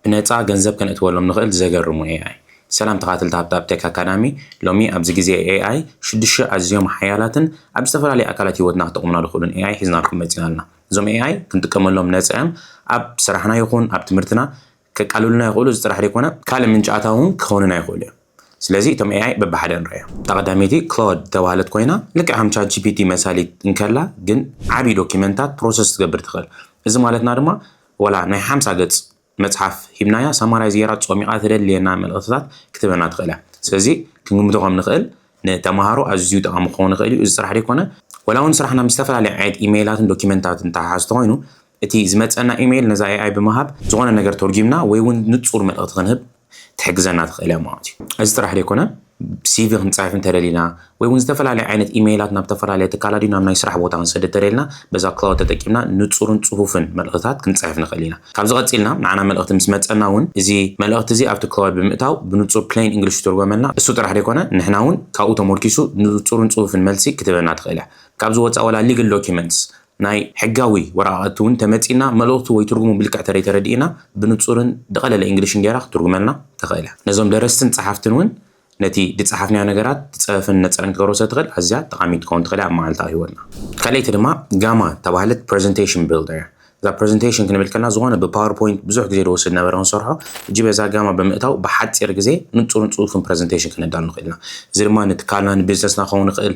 ብነጻ ገንዘብ ከነእትወሎም ንኽእል ዘገርሙ AI። ሰላም ተኻተልቲ ሃብታብ ቴክ ኣካዳሚ፣ ሎሚ ኣብዚ ግዜ AI ሽዱሽተ ኣዝዮም ሓያላትን ኣብ ዝተፈላለየ ኣካላት ሂወትና ክጠቕሙና ዝኽእሉን AI ሒዝናልኩም መጺና ኣልና። እዞም AI ክንጥቀመሎም ነጻ እዮም ኣብ ስራሕና ይኹን ኣብ ትምህርትና ከቃልሉልና ይኽእሉ እዚ ጥራሕ ዘይኮነ፣ ካልእ ምንጪ ኣታዊ ውን ክኾኑና ይኽእሉ እዮም ስለዚ እቶም AI በብሓደ ንርኣዮም። እታ ቀዳመይቲ Claude ዝተባህለት ኮይና ልክዕ ከም ChatGPT መሳሊት እንከላ ግን ዓቢ ዶኪመንታት ፕሮሰስ ክትገብር ትኽእል። እዚ ማለትና ድማ ወላ ናይ ሓምሳ ገጽ መጽሓፍ ሂብናያ ሳማራይዝ ጌራ ጾሚቓ ተደልየና መልእኽትታት ክትህበና ትኽእል እያ። ስለዚ ክንግምቶ ከም ንኽእል ንተመሃሮ ኣዝዩ ጠቓሚ ክኸውን ይኽእል እዩ። እዚ ጥራሕ ዘይኮነ ወላ እውን ስራሕና ምስ ዝተፈላለየ ዓይነት ኢመይላትን ዶክመንታትን ዝተሓሓዝ እንተኾይኑ እቲ ዝመጸና ኢመይል ነዛ AI ብምሃብ ዝኾነ ነገር ተርጒምና ወይ እውን ንጹር መልእኽቲ ክንህብ ትሕግዘና ትኽእል እያ ማለት እዩ። እዚ ጥራሕ ዘይኮነ ሲቪ ክንፅሕፍ እንተደሊና ወይ እውን ዝተፈላለዩ ዓይነት ኢመይላት ናብ ዝተፈላለዩ ትካላት ድዩ ናብ ናይ ስራሕ ቦታ ክንሰድ እንተደሊና በዛ ክላውድ ተጠቂምና ንፁርን ፅፉፍን መልእኽትታት ክንፅሕፍ ንኽእል ኢና። ካብዚ ቀፂልና ንዓና መልእኽቲ ምስ መፀና እውን እዚ መልእኽቲ እዚ ኣብቲ ክላውድ ብምእታው ብንፁር ፕሌን ኢንግሊሽ ይትርጎመልና። እሱ ጥራሕ ዘይኮነ ንሕና እውን ካብኡ ተሞርኪሱ ንፁርን ፅፉፍን መልሲ ክትህበና ትኽእል እያ። ካብዚ ወፃእ ዋላ ሊግል ዶኪመንትስ ናይ ሕጋዊ ወረቓቐቲ ውን ተመጺና መልእኽቱ ወይ ትርጉሙ ብልክዕ ተደይ ተረዲኢና ብንጹርን ድቐለለ ኢንግሊሽን ገይራ ክትርጉመልና ተኸእለ ነዞም ደረስትን ጸሓፍትን ውን ነቲ ድጸሓፍናዮ ነገራት ድጸረፍን ነጸረን ክትገብሮ ስለ ትኸእል ኣዝያ ጠቓሚት ትኸውን ትኸእል እያ ኣብ መዓልታዊ ህይወትና። ካልኣይቲ ድማ ጋማ እተባህለት ፕረዘንተሽን ቢልደር እያ። እዛ ፕረዘንተሽን ክንብል ከለና ዝኾነ ብፓወር ፖይንት ብዙሕ ግዜ ድወስድ ነበረ ክንሰርሖ ሕጂ በዛ ጋማ ብምእታው ብሓጺር ግዜ ንጹርን ጽፉፍን ፕረዘንተሽን ክነዳሉ ንኽእል ኢና። እዚ ድማ ንትካልና ንቢዝነስና ክኸውን ይኽእል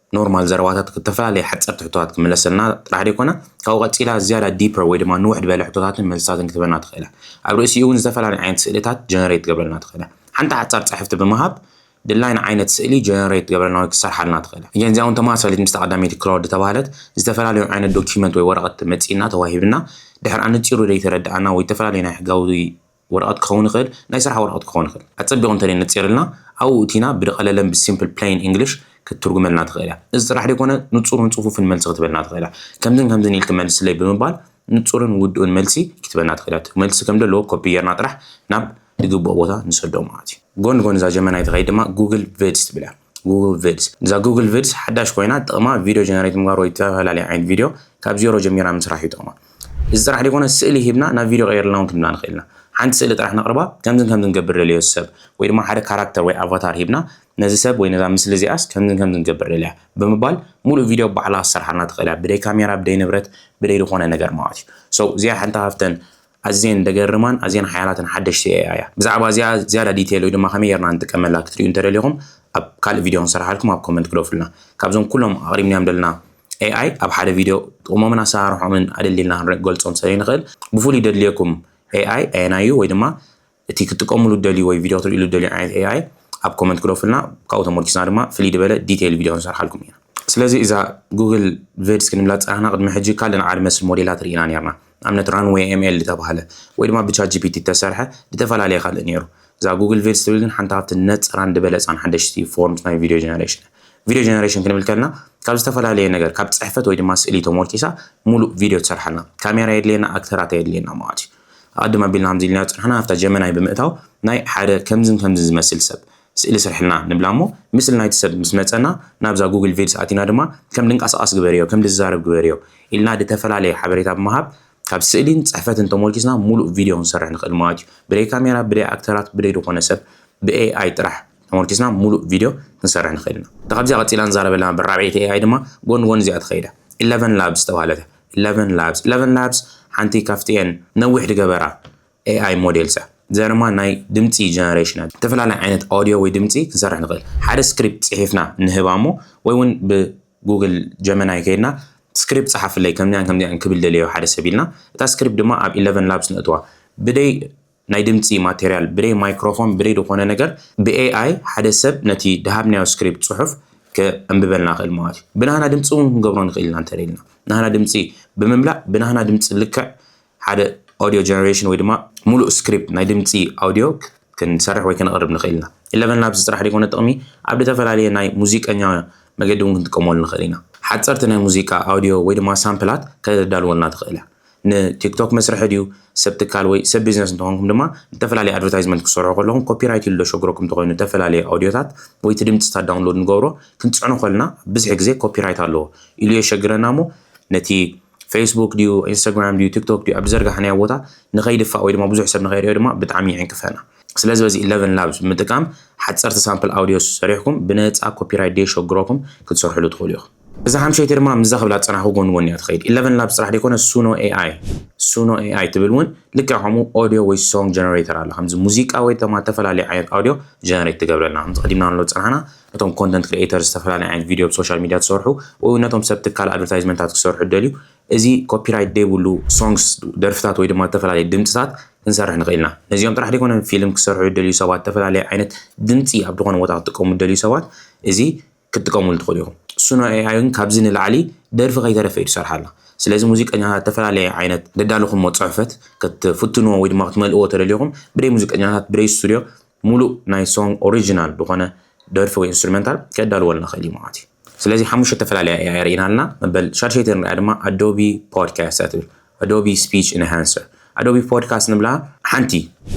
ኖርማል ዘረባታት ዝተፈላለየ ሓጸርቲ ሕቶታት ክምለሰልና ጥራሕ ዘይኮነ፣ ካብኡ ቀጺላ ዝያዳ ዲፐር ወይ ድማ ንውሕ ድበለ ሕቶታትን መልስታትን ክትህበና ትኽእል እያ። ኣብ ርእሲኡ እውን ዝተፈላለየ ዓይነት ስእልታት ጀነሬት ትገብረልና ትኽእል እያ። ሓንቲ ሓጻር ጽሕፍቲ ብምሃብ ድላይና ዓይነት ስእሊ ጀነሬት ክትገብረልና ወይ ክትሰርሓልና ትኽእል እያ። እዚኣ እውን ተመሳሳሊት ምስታ ቀዳመይቲ ክላውድ እተባህለት ዝተፈላለዩ ዓይነት ዶክመንት ወይ ወረቐት መጺእና ተዋሂብና ድሕር ኣነጺሩ ዘይተረድኣና ወይ ዝተፈላለዩ ናይ ሕጋዊ ወረቐት ክኸውን ይኽእል፣ ናይ ስራሕ ወረቐት ክኸውን ይኽእል። ኣጸቢቑ እንተ ነጺርልና፣ ኣብኡ እቲና ብደቐለለን ብሲምፕል ፕለይን ኢንግሊሽ ክትትርጉመልና ትኽእል እያ። እዚ ጥራሕ ደይኮነ ንጹርን ጽፉፍን መልሲ ክትበልና ትኽእል እያ። ከምዝን ከምዝን ኢልኪ መልስለይ ብምባል ንጹርን ውዱእን መልሲ ክትበና ትኽእል እያ። እቲ መልሲ ከም ደለዎ ኮፒ ጌርና ጥራሕ ናብ ዝግብኦ ቦታ ንሰዶ ማለት እዩ። ጎኒ ጎኒ እዛ ጀመናይ ትኸይድ ድማ ጉግል ቪድስ ትብል እያ። Google Vids እዛ Google Vids ሓዳሽ ኮይና ጥቕማ ቪድዮ ጀነሬት ምግባር ወይ ዝተፈላለየ ዓይነት ቪድዮ ካብ ዜሮ ጀሚርና ምስራሕ እዩ ጥቕማ። እዚ ጥራሕ ዘይኮነ ስእሊ ሂብና ናብ ቪድዮ ቀይርልና እውን ክንብላ ንኽእል ኢና። ሓንቲ ስእሊ ጥራሕ ነቕርባ ከምዝን ከምዝን ገብር ደልዮ ሰብ ወይ ድማ ሓደ ካራክተር ወይ ኣቫታር ሂብና ነዚ ሰብ ወይ ነዛ ምስሊ እዚኣስ ከምዝን ከምዝን ገብር ደልያ ብምባል ሙሉእ ቪድዮ ባዕላ ክትሰርሓልና ትኽእል እያ ብደይ ካሜራ ብደይ ንብረት ብደይ ዝኾነ ነገር ማለት እዩ። So እዚኣ ሓንቲ ካብተን ኣዝየን ደገርማን ኣዝየን ሓያላትን ሓደሽቲ AI እያ። ብዛዕባ እዚኣ ዝያዳ ዲቴል ወይ ድማ ከመይ ጌርና ንጥቀመላ ክትርእዩ እንተደሊኹም ኣብ ካልእ ቪድዮ ክንሰርሓልኩም ኣብ ኮመንት ግደፉልና። ካብዞም ኩሎም ኣቕሪብናዮም ደለና AI ኣብ ሓደ ቪድዮ ጥቕሞምን ኣሰራርሖኦምን ኣደልዲልና ክንገልጾም ስለይንኽእል ብፍሉይ ደድልየኩም AI ኣየናይ እዩ ወይ ድማ እቲ ክትጥቀምሉ እትደልዩ ወይ ቪድዮ ክትርእይሉ እትደልዩ ዓይነት AI ኣብ ኮመንት ግደፉልና ካብኡ ተመርኪስና ድማ ፍልይ ዝበለ ዲቴይል ቪድዮ ክንሰርሓልኩም ኢና። ስለዚ እዛ ጉግል ቨድስ ክንብላ ዝጸናሕና ቅድሚ ሕጂ ካልእ ናይ ዓድ መስል ሞዴላት ርኢና ኔርና ንኣብነት ራንዌይ ኤም ኤል ዝተባህለ ወይ ድማ ብቻት ጂፒቲ እተሰርሐ እተፈላለየ ካልእ ኔሩ እዛ ጉግል ቨድስ ትብል ግን ሓንቲ ካብቲ ነጸራን ድበለጻን ሓደሽቲ ፎርምስ ናይ ቪድዮ ጀነሬሽን እያ ቪድዮ ጀነሬሽን ክንብል ከለና ካብ ዝተፈላለየ ነገር ካብ ጽሕፈት ወይ ድማ ስእሊ ተሞርኪሳ ሙሉእ ቪድዮ ትሰርሓልና ካሜራ የድልየና ኣክተራት ኣየድልየና ማለት እዩ ኣቐድም ኣቢልና ከምዚ ኢልናዮ ዝጸናሕና ኣብታ ጀመናይ ብምእታው ናይ ሓደ ከምዝን ከምዝን ዝመስል ሰብ ስእሊ ስርሕልና ንብላ እሞ ምስሊ ናይቲ ሰብ ምስ መጸና ናብዛ ጉግል ቪድስ ኣቲና ድማ ከም ድንቃሳቐስ ግበርዮ ከም ድዛረብ ግበርዮ ኢልና ድተፈላለየ ሓበሬታ ብምሃብ ካብ ስእሊን ጽሕፈትን ተሞርኪስና ሙሉእ ቪድዮ ክንሰርሕ ንኽእል ማለት እዩ ብደይ ካሜራ ብደይ ኣክተራት ብደይ ድኾነ ሰብ ብኤኣይ ጥራሕ ተመርኪስና ሙሉእ ቪድዮ ክንሰርሕ ንኽእል ኢና። እታ ካብዚኣ ቀጺላ ንዛረበላ ነበር ራብዐይቲ ኤኣይ ድማ ጎኒ ጎኒ እዚኣ ትኸይድ እያ። ኢለቨን ላብስ ዝተባህለት እያ። ኢለቨን ላብስ ኢለቨን ላብስ ሓንቲ ካብቲኤን ነዊሕ ድገበራ ኤኣይ ሞዴልስ እያ። እዚኣ ድማ ናይ ድምጺ ጀነሬሽን እያ። ዝተፈላለየ ዓይነት ኦድዮ ወይ ድምጺ ክንሰርሕ ንኽእል። ሓደ ስክሪፕት ጽሒፍና ንህባ እሞ ወይ እውን ብጉግል ጀመናይ ከይድና ስክሪፕት ጸሓፍለይ ከምዚኣን ከምዚኣን ክብል ደልየ እዩ ሓደ ሰብ ኢልና እታ ስክሪፕት ድማ ኣብ ኢለቨን ላብስ ነእትዋ። ብደይ ናይ ድምጺ ማቴርያል ብደይ ማይክሮፎን ብደይ ድኾነ ነገር ብ AI ሓደ ሰብ ነቲ ድሃብናዮ ስክሪፕት ጽሑፍ ከንብበልና ይኽእል ማለት እዩ። ብናህና ድምጺ እውን ክንገብሮ ንኽእል ኢና እንተ ደሊና። ናህና ድምጺ ብምምላእ ብናህና ድምጺ ልክዕ ሓደ ኦድዮ ጀነሬሽን ወይ ድማ ሙሉእ ስክሪፕት ናይ ድምጺ ኣውድዮ ክንሰርሕ ወይ ከነቕርብ ንኽእል ኢና። ኢለቨን ላብስ ጥራሕ ደይኮነ ጥቕሚ ኣብ ድተፈላለየ ናይ ሙዚቀኛ መገዲ እውን ክንጥቀመሉ ንኽእል ኢና። ሓጸርቲ ናይ ሙዚቃ ኣውድዮ ወይ ድማ ሳምፕላት ከተዳልወልና ትኽእል እያ። ንቲክቶክ መስርሒ ድዩ? ሰብ ትካል ወይ ሰብ ቢዝነስ እንተኾንኩም ድማ ንተፈላለየ ኣድቨርታይዝመንት ክትሰርሑ ከለኹም ኮፒራይት ኢሉ ዶ ሸግረኩም እንተኾይኑ ተፈላለየ ኣውድዮታት ወይ እቲ ድምጽታት ዳውንሎድ ንገብሮ ክንጽዕኖ ከለና ብዝሒ ግዜ ኮፒራይት ኣለዎ ኢሉ የሸግረና እሞ ነቲ ፌስቡክ ድዩ ኢንስታግራም ድዩ ቲክቶክ ድዩ ኣብ ዝዘርጋሕናዮ ቦታ ንኸይድፋእ ወይ ድማ ብዙሕ ሰብ ንኸይሪኦ ድማ ብጣዕሚ ይዕንቅፈና። ስለዚ በዚ ኢለቨን ላብስ ብምጥቃም ሓጸርቲ ሳምፕል ኣውድዮስ ሰሪሕኩም ብነጻ ኮፒራይት ደየሸግረኩም ክትሰርሕሉ ትኽእሉ ኢኹም። እዛ ሓምሸይቲ ድማ ምስዛ ክብላ ዝጸናሕኩ ጎኒ ጎኒ እያ ትኸይድ። ኢለቨን ላብስ ጥራሕ ዘይኮነ ሱኖ ኤኣይ፣ Suno AI፣ ትብል እውን ልክዕ ከምኡ ኦድዮ ወይ ሶንግ ጀነሬተር ኣላ። ከምዚ ሙዚቃ ወይ ድማ እተፈላለየ ዓይነት ኣውድዮ ጀነሬት ትገብረልና። ከምቲ ቀዲምናንሎ ዝጸናሕና ነቶም ኮንተንት ክሪኤተርስ ዝተፈላለየ ዓይነት ቪድዮ ብሶሻል ሚድያ ትሰርሑ ወይ እውን ነቶም ሰብ ትካል ኣድቨርታይዝመንታት ክሰርሑ ዝደልዩ እዚ ኮፒራይት ዘይብሉ ሶንግስ ደርፍታት ወይ ድማ እተፈላለየ ድምጽታት ክንሰርሕ ንኽእል ኢና። ነዚኦም ጥራሕ ዘይኮነ ፊልም ክሰርሑ ዝደልዩ ሰባት እተፈላለየ ዓይነት ድምጺ ኣብ ዝኾነ ቦታ ክጥቀሙ ዝደልዩ ሰባት እዚ ክትጥቀምሉ ትኽእሉ ኢኹም። Suno AI እውን ካብዚ ንላዕሊ ደርፊ ከይተረፈ እዩ ዝሰርሓላ። ስለዚ ሙዚቀኛታት ዝተፈላለየ ዓይነት ዘዳለኹሞ ጽሑፈት ክትፍትንዎ ወይ ድማ ክትመልእዎ ተደሊኹም ብደይ ሙዚቀኛታት ብደይ ስቱድዮ ሙሉእ ናይ ሶንግ ኦሪጂናል ዝኾነ ደርፊ ወይ ኢንስትሩመንታል ከዳልወልና ይኽእል እዩ ማለት እዩ። ስለዚ ሓሙሽተ ዝተፈላለያ AI ርኢና ኣለና። መበል ሻድሸይቲ ንርእያ ድማ ኣዶቢ ፖድካስት እያ ትብል። Adobe Speech Enhancer፣ Adobe Podcast ንብላ ሓንቲ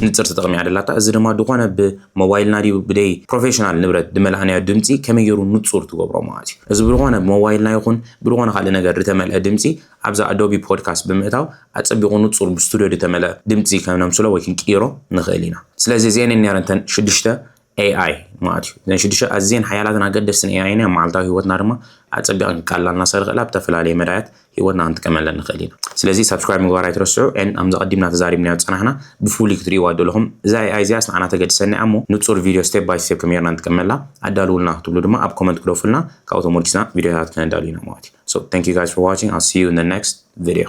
ንጽር ተጠቕሚ እያ ደላታ፣ እዚ ድማ ድኾነ ብሞባይልና ድዩ ብደይ ፕሮፌሽናል ንብረት ድመላእናዮ ድምጺ ከመይ ገሩ ንጹር ትገብሮ ማለት እዩ። እዚ ብድኾነ ብሞባይልና ይኹን ብድኾነ ካልእ ነገር ድተመልአ ድምጺ ኣብዛ Adobe Podcast ብምእታው ኣጸቢቑ ንጹር ብስቱድዮ ድተመልአ ድምጺ ከነምስሎ ወይ ክንቅይሮ ንኽእል ኢና። ስለዚ እዚኤን እየን ነይረን እተን ሽዱሽተ AI ማለት እዩ። እዘን ሽዱሽተ ኣዝየን ሓያላትን ኣገደስትን AI ኢና መዓልታዊ ህይወትና ድማ ኣጸቢቐን ክቃልላልና ዝኽእል ክእላ ብተፈላለየ መዳያት ህይወትና ክንጥቀመለን ንኽእል ኢና። ስለዚ ሳብስክራይብ ምግባር ኣይትረስዑ። ኤን ኣም ዘቐዲምና ተዛሪብናዮ ዝጸናሕና ብፍሉይ ክትርእይዋ ደለኹም እዛ AI እዚኣስ ንዓና ተገድሰና እያ እሞ ንጹር ቪድዮ ስቴፕ ባይ ስቴፕ ከመይ ጌርና ንጥቀመላ ኣዳልውልና ክትብሉ ድማ ኣብ ኮመንት ግደፉልና ካብኡ ተሞርኪስና ቪድዮታት ከነዳሉ ኢና ማለት እዩ። So thank you guys for watching. I'll see you in the next video.